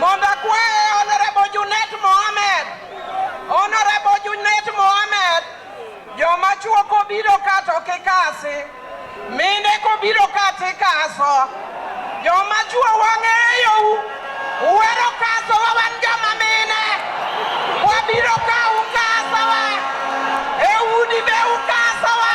Mondo akwaye Honorable Junet Mohamed. Honorable Junet Mohamed. Joma chuo kobiro ka to kikasi. Mine kobiro ka tikaso. Joma chuo wang'eyo u. Uwero kaso wa wan joma mine. Wabiro ka ukaso wa. E udi be ukaso wa.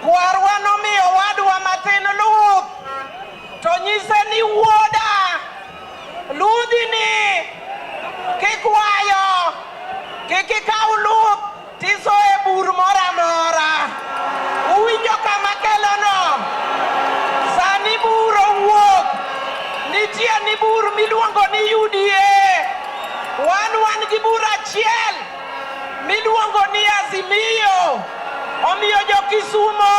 Kwarwa nomiyo owadwa matin luth, to nyise ni wuoda, ludhini kikwayo, kik ikaw luth tiso e bur moro amora. Uwinjo kama kelono? Sani bur owuok, nitie ni bur miluongo ni UDA. Wan wan gi bur achiel. miluongo ni Azimio. Omiyo jo-Kisumo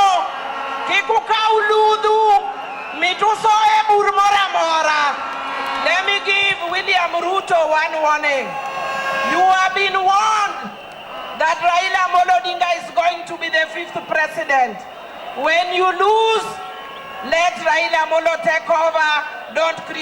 kik ukaw ludhu mituso e bur moro amora. Let me give William Ruto one warning. You have been warned that Raila Amolo Odinga is going to be the fifth president. When you lose, let Raila Amolo take over. Don't create